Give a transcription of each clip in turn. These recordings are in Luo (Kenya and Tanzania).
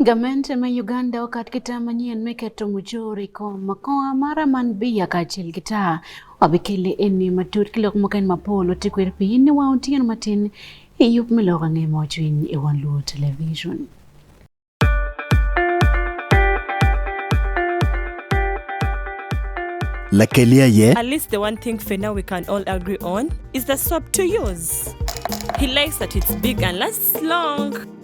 Gament ma Uganda okat kita manyien miketo mujuri ko makoa mara man biya kaachiel gi taa wabikele eni matut kilok moken mapolo tikwer piny ni wao tiyan matin iyup miloko ang'e mochwiny e wan luo television Lakelia ye. At least the one thing for now we can all agree on is the soap to use. He likes that it's big and lasts long.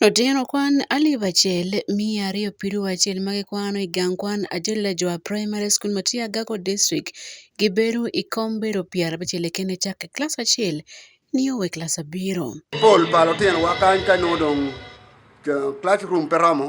Otieno kwan alif achiel mia ariyo piero achiel ma gikwano i gang kwan Ajila Jua Primary School Matia Gago District gi bero i kom bero pyara abicel kene cak i klas acel ni owe klas abiro. Pol pa lutinowa kany ka nongo dong classroom pe romo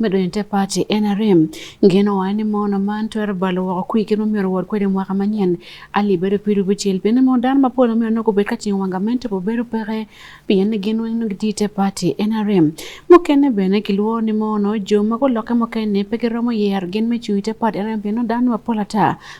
medonite pati NRM ngeno wa ni mono man twero balo woko kwi kino myero wod kwede mwaka manyen ali bedo piru bucel pien ni mono dano mapol myero nogo bed kacing wanga mente po bedo peke pien ni gin weng nogi tite pati NRM mukene bene kilwo ni mono jo ma gulokke mukene pe giromo yer gin me cuyite pati NRM pien ni dano mapol ata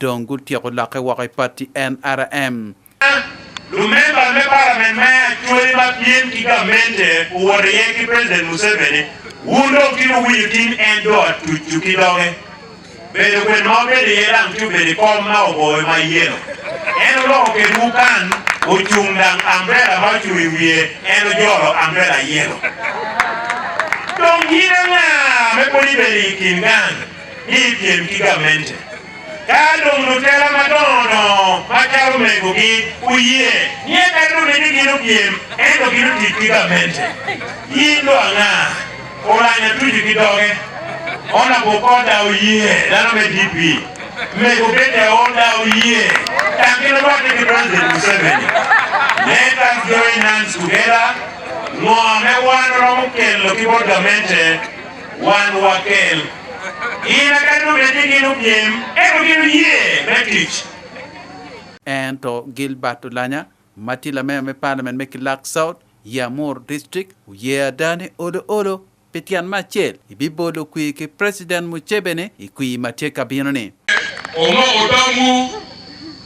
dong gutyeko lokke woko i pati NRM. Lumemba me parliament me Acholi ma piem ki gamente owoto iye ki President Museveni wun dong kit owinyo tin en do atucu ki doge bedo kwed ma obedo iye dang ci obedo i kom ma oboyo ma yelo en oloko ked wukan ocung dang ambrela ma ocung i wiye en ojolo ambrela yelo dong yine nga me poni bedo i kin gang ni ipiem ki gamente ka dong lutela madongo dongo ma calo megogi oyie ni e kare dong ni gin opiem ento gin otic ki gamente in do ang'a olanya tuju ki doge ona bokoda oyie dano me dp mego bende oda oyie tangino rwate ki president museveni let us join hands together ng'o me wan romo kelo ki bod gamente Wan wakel. Ina kanu bende gino piem, eko gino yie me tich. En to Gilbert Olanya, matila mea me parliament me Kilak South, Yamur District, uye adani olo olo, petian machel, ibibolo kwi ki President Muchebene, ikwi matye kabino ni. Omo odamu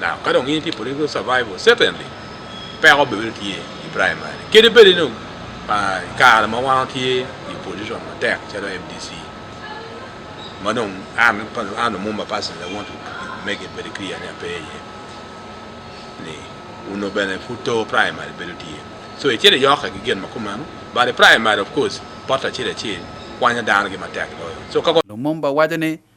Now, ka dong in ti political survival, certainly, peko bebe tye i primary. Kede bede no, uh, kare ma wan tye i position matek calo MDC. Ma dong, an, an mumba person that want to make it very clear ni ape ye. Ni, uno bene futo primary bede tye. So, e chere yoka gi gen ma kumano, but the primary, of course, pota chere chere, kwanya dano gi matek loyo. So, kako Lumumba wacho ni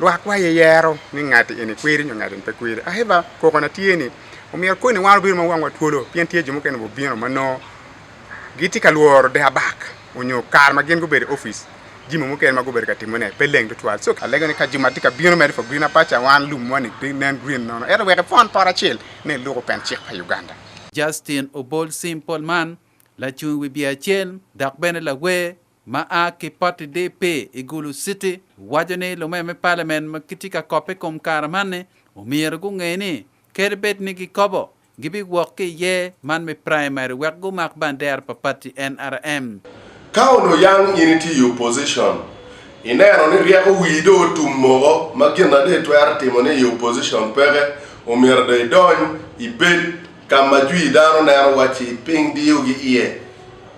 Lwak wa ye yero ni ngati eni kweri nyo ngati pe kweri. Aheba koko na tye ni omiyo koni wan obiro ma wangwa twolo pien tye jo mukene bubino ma no giti ka lworo de abak onyo kar ma gin gubedo office jimo mukene ma gubedo ka timo ne pe leng tutwal so alego ni ka juma ti ka bino meri for green apacha wan lum wani ti nen green nono ero weke fon por acel ne luko pen cik pa Uganda Justin Obol Simple man lacung wi biacel dok bene lawer ma a ki pati DP i Gulu City waco ni lume me palamen ma gitye ka kope kom kare man-ni omyero gunge ni kadi bed ni gikobo gibiwok ki iye man me primary wek gumak bandera pa pati NRM. Ka onongo yang in itye i opposition, ineno ni ryeko wii dong otum moko ma gin ma dong itwero timo ni i opposition peke, omyero dong idony ibed ka ma jwi dano neno wacci piny diyogi iye.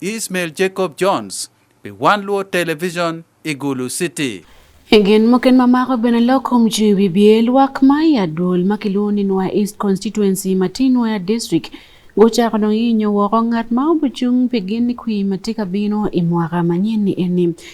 Ismail Jacob Jones pi One Luo Television i Gulu City. Egen moken ma mako bene lokom ci bibye lwak ma i adwol ma kilwongo ni Nwa East Constituency ma tye Nwa District gucako dong yinyo woko ngat ma obucung pi gin ni kwi ma tye ka bino i mwaka manyen ni eni.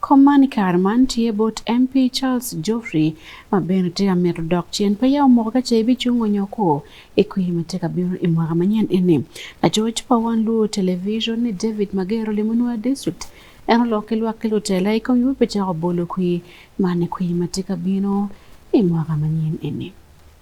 Komani kar man tie bot MP Charles Geoffrey ma bende tye ka mito dok cen pe yawo moko ka ce ibicung onyo ko i kwi ma tye ka bino i mwaka manyen eni. Lacoc pa wan Luo Television ni David Magero limo Nua District en olok ki lwak ki lutela i kom yub pi cako bolo kwi man i kwi ma tye ka bino i mwaka manyen eni.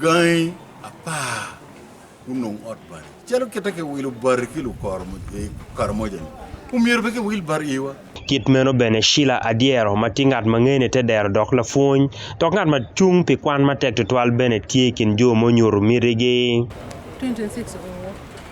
Gangi apar gunong ot bari. Calo kita ke wilo bari ki lukoro mo- eh, Karamoja ni. Omyero be ke wil bari iwa. Kit meno bene Sheila Adyero ma tye ngat ma ngene te dero dok lapwony dok ngat ma cung pi kwan matek tutwal bene tye i kin jo ma onyuto mitigi. 2026 oo.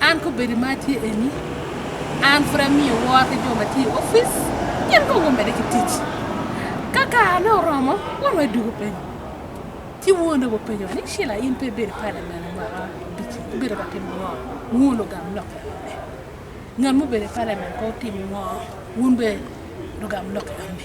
an kobedo ma atye eni an pud amiyo wor ki jo ma tye i opic gin kong omede ki tic ka karane oromo won wadugo piny ci wuon obo penyo ni shila in pe ibedo palamen ma bici ibedo ka timo ngo wuon ogam lok ngat mubedo i palamen ko timo ngo wun be lugam lok yone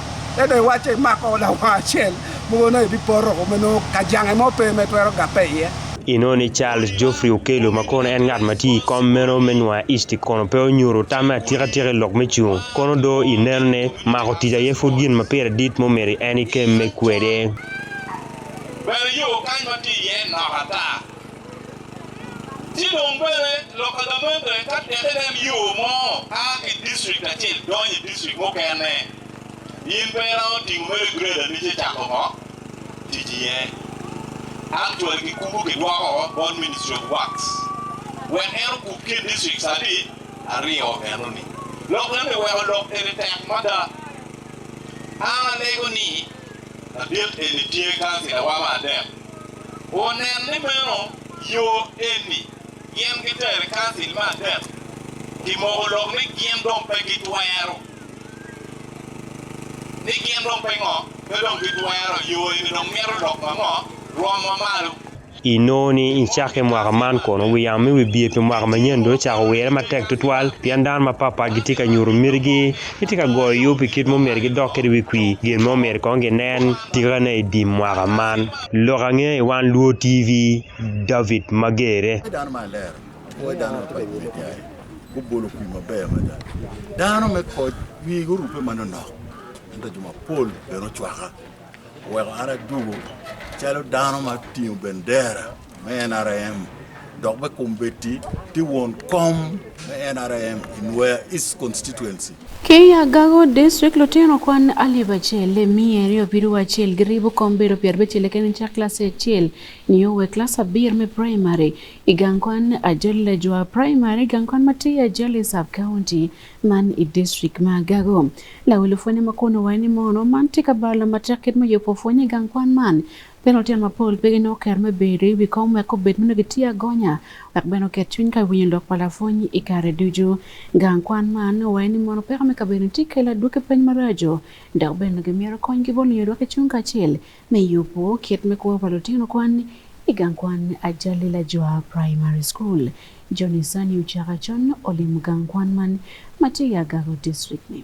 Ede wace mako lawa acel mogo na ebi poro ko meno kajange mo pe me twero gape iye. Ino ni Charles Geoffrey Okello ma kono en ngat ma tye i kom meno me Nua East kono pe onyuto tamme atika tika i lok me cung. Kono do i neno ni mako tic aye pud gin ma pire dit ma omyero en ikem me kwede. Bene yo kany ma tye iye nok ata. Chidong bende loka gamembe ka tiende en yo mo a ki district achiel donjo e district mokene. In pera oting'o mere grade ni chako mo tiji ye. Actually kikumbu kidwoko bon ministry of works. When en okup ki district sadi ariyo eno ni. Lok nende wewa lok ene tek mada. Ana lego ni adiet ene tiye kansi na wama adem. Onen ni meno yo eni gin gitere kansil me adek pi moko lok ni gin dong pe gitwero ni gin dong pe ngo pe dong gitwero yo eni dong mito lok ma ngo rwom ma malo inongo ni i cakke mwaka man kono wi yamo me wibye pi mwaka manyen dong ocako wirre matek tutwal pien dano mapatpat gitye ka nyuto mitigi Itye ka goyo yo pi kit mumyero gidok kede wi kwi gin mo myero kong ginen tikane i dim mwaka man. Lok ange i wan Luo TV, David Magere. dano ma alero apuoyo dano ma padi me jaye gubolo kwi maber mada dano me koc wigi orupe ma nonok ento jo mapol bene ocwaka oweko an adugo calo dano ma tingo bendera me NRM dok me kum beti ti won kom me NRM in where East constituency Kenya gago district lutino kwan alif achiel le miya ariyo piru achiel gi ribu kom bedo pier abichiel eken cha klas achiel niyo we klas abir me primary igang kwan ajol le jwa primary igang kwan mati ajol i sub county man i district ma gago lawelo fwenye makono wani mono man tika bala matek kit moyo po fwenye gang kwan man Pe lutino mapol pe ginongo ker me bedo i wi kom wek obed ma nongo gitye agonya wek bene oket cwiny ka winyo lok pa lapwony i kare ducu. Gang kwan man owaye ni mono peko me kabedo-ni tye kelo adwoki peny maraco dok bene nongo gimito kony ki bot lunyo lwak ecung kacel me yubo kit me kwo pa lutino kwan i gang kwan Ajali Lajwa Primary School. Johnny Sanni ocako acon olimo gang kwan man ma tye i Agako District-ni.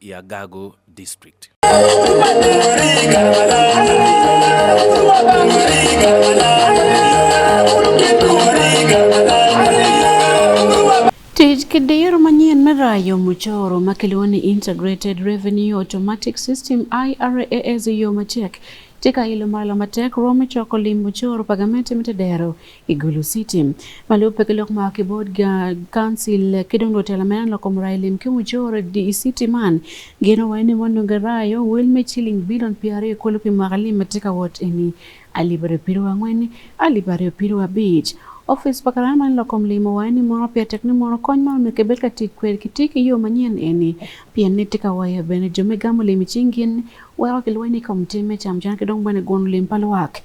ya Gago District. Tij kidir manyien mirayo muchoro makiluwo ni Integrated Revenue Automatic System IRAS e yo matek tika ilo malo matek romi choko limbo choro pagamenti mitedero i Gulu City. Ma lubbe ki lok ma kibodga council ki dong lutela ma en lokom rai lim ki mujoro i city man gino wai ni wanonge rai o wel me ciling bilion pi aryo kulu pi mwaka lim ma tye ka wot eni alip aryo piru angwen alip aryo piru abic Office pa karaya man lokom lim owayo ni mono pia tek ni mono kony man onongo kibed ka tic kwede ki tye ki yo manyen eni pien ni tye ka wayo bene jo me gamo lim i cing gin weko kilweny i kom tim me cam can ki dong bene guno lim pa lwak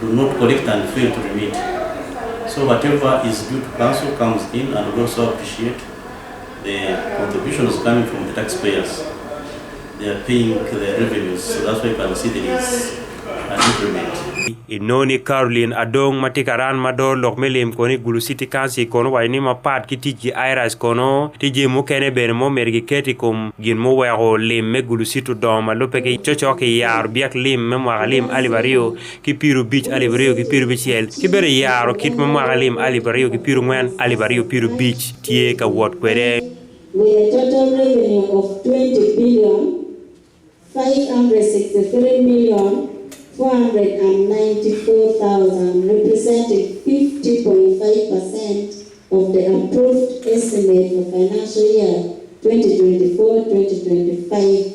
do not collect and fail to remit. So whatever is due to council comes in and we also appreciate the contributions coming from the taxpayers. They are paying the revenues, so that's why you can see there is an increment. inoni Caroline Adong ma tye ka ran mador lok me lim kono i Gulu City Council kono waco ni mapat ki tic ki IRAS kono tije mukene bene ma omedo giket i kom gin muweko lim me Gulu City odongo ma lubbe ki cocok ki yaro byek lim me mwaka lim alip aryo ki piero bic alip aryo ki piero bicel ki bene yaro kit ma mwaka lim alip aryo ki piero ngwen alip aryo piero bic tye ka wot kwede with a total revenue of 20 billion 563 million 494,000, representing 50.5% of the approved estimate for financial year 2024-2025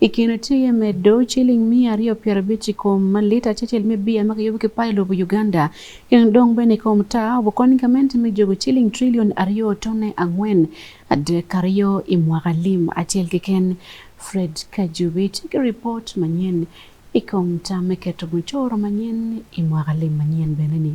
I kin otiye medo ciling miya aryo pyerabicc i kom malit acecel me bia ma kiyubo ki payo lobo Uganda. Kin dong bene i kom taa obukony gamente me jogo ciling trillion aryo tone angwen adek aryo i mwaka lim acel keken. Fred Kajubi tye ki ripot manyen i kom tam me keto mucoro manyen i mwaka lim manyen bene ni.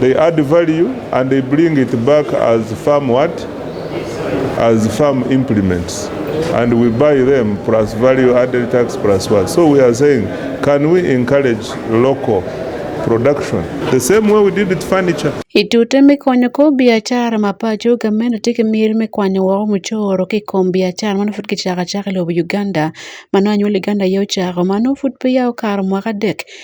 They add value and they bring it back as farm what? As farm implements. And we buy them plus value added tax plus what? So we are saying, can we encourage local production the same way we did with furniture. Itute mikonyo ko biashara mapacho gameno tike mir mikwanyo wao muchoro ki kom biashara mano fut kichaka chaka lobo Uganda mano anyuol Uganda yo chako mano fut pe yawo karo mwaka dek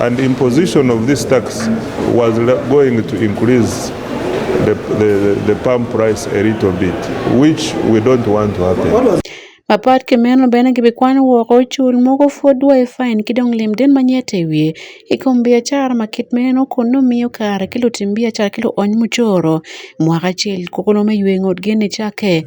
And imposition of this tax was going to increase the, the, the palm price a little bit, which we don't want to happen. Mapat kemeno bene gibi kwan woko cul mogo fod wa i fain ki dong lim den ma nyete i wiye i kom biacara ma kit meno kun nongo miyo kare ki lutim biacara ki luony mucoro mwaka acel kokono me ywe ngut geni cake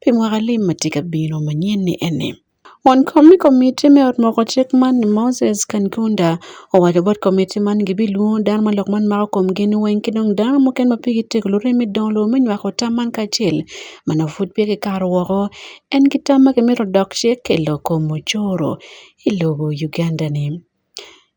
Pi mwaka lim ma tye ka bino manyeni eni. Won komi komiti me ot moko cik man ni Moses Kankunda owaco bot komiti man gibilwongo dano ma lok man mako komgi ni weng ki dong dano mukene ma pigi tek lurim me dongo lobo me nywako tam man kacel ma nongo pud peya kikato woko en ki tam ma kimito dok cik i loko mucoro i lobo Uganda-ni.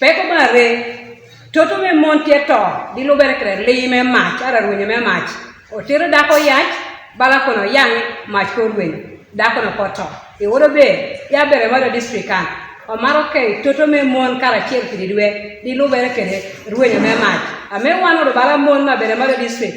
Peko mare toto me mon tye to gilubere kede lii me mac ara rwenye me mac otero dako yac bala kono yang mac ko rwenye dako no ko to i wodo be ya bere mado district kan omaro ke toto me mon kara chiel kidi dwe dilubere kede rwenye me mac ame wan odo bala mon ma bere mado district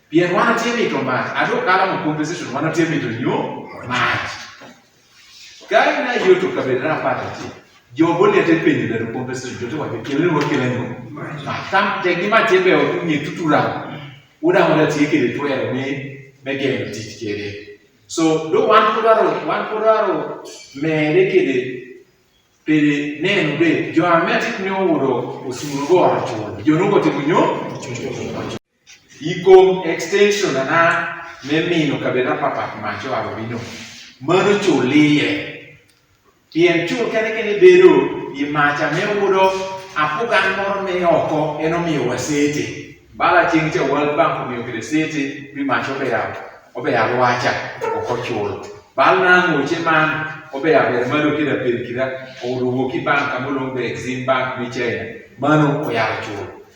Pien wan otie mito mach, ato kala mo compensation wan otie mito nyo mach. Kari na yo to kabir na pata ti. Jo boli ate penye da compensation jo to wa kele wo kele nyo. Ma tam te gi ma te be o ni tutura. Uda mo da ti kele to ya me me ge no ti kele. So do wan ko daro wan ko daro me de kele pele ne no be jo ametik nyo wo do osuru go ato. Jo no go ti nyo. Ikom extension ana me mino kabena papat macho aro bino. Mano chulie. Pien chul kene kene bedo i macha me udo apugan moro me oko eno miyo wasete. Bala ching che World Bank miyo kede sete mi macho be ya obe ya wacha oko chul. Bal na ngoche man obe ya ber malo kida per kida oruwo ki bank amulong be exim bank mi chenya. Mano oyaro chul.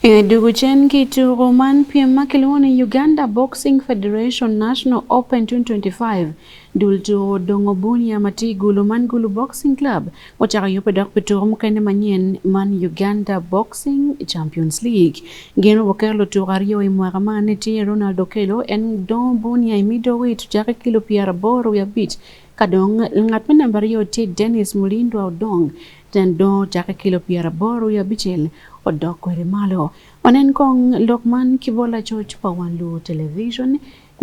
E dugu chen ki tugo man piem ma kilwongo ni Uganda Boxing Federation National Open 2025 dul tugo odongo bunia ma tye i gulu man Gulu Boxing Club ocako yubbe dok pi tuko mukene manyen man Uganda Boxing Champions League. Gin obuker lutuko aryo i mwaka man ni tye Ronald Okello en dongo bunia i middleweight ocake kilo pyera boro wiye abic ka dong ngat me namba aryo tye Dennis Mulindwa Odong Tyen dongo cakke kilo pyera aboro i abicel odok kwede malo. Wanen kong lok man ki bot lacoc pa wan luwo televicon,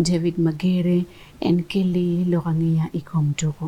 David Magere. En keli lok angeya i kom tuku.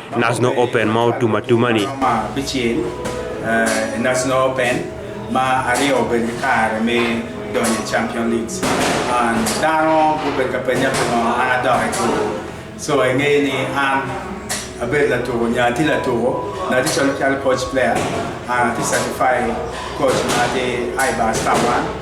National Open ma otum atuma ni. Ma bichien uh, National Open ma ariyo obed kare mi donjo Champion League. An dano gubed ka penja pimo an adok e tugo. So eng'eyo ni an abed latugo, nyathi latugo, nyathi chalo chal coach player, an ati certified coach ma ati IBA Star One.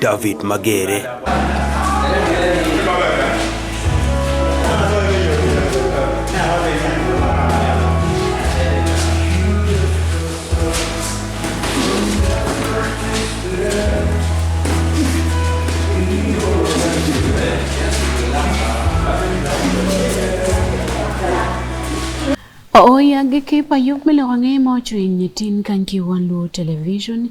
David Magere. Ooyagikipayok mele kwang'e mochwiny tin kankiwan lu television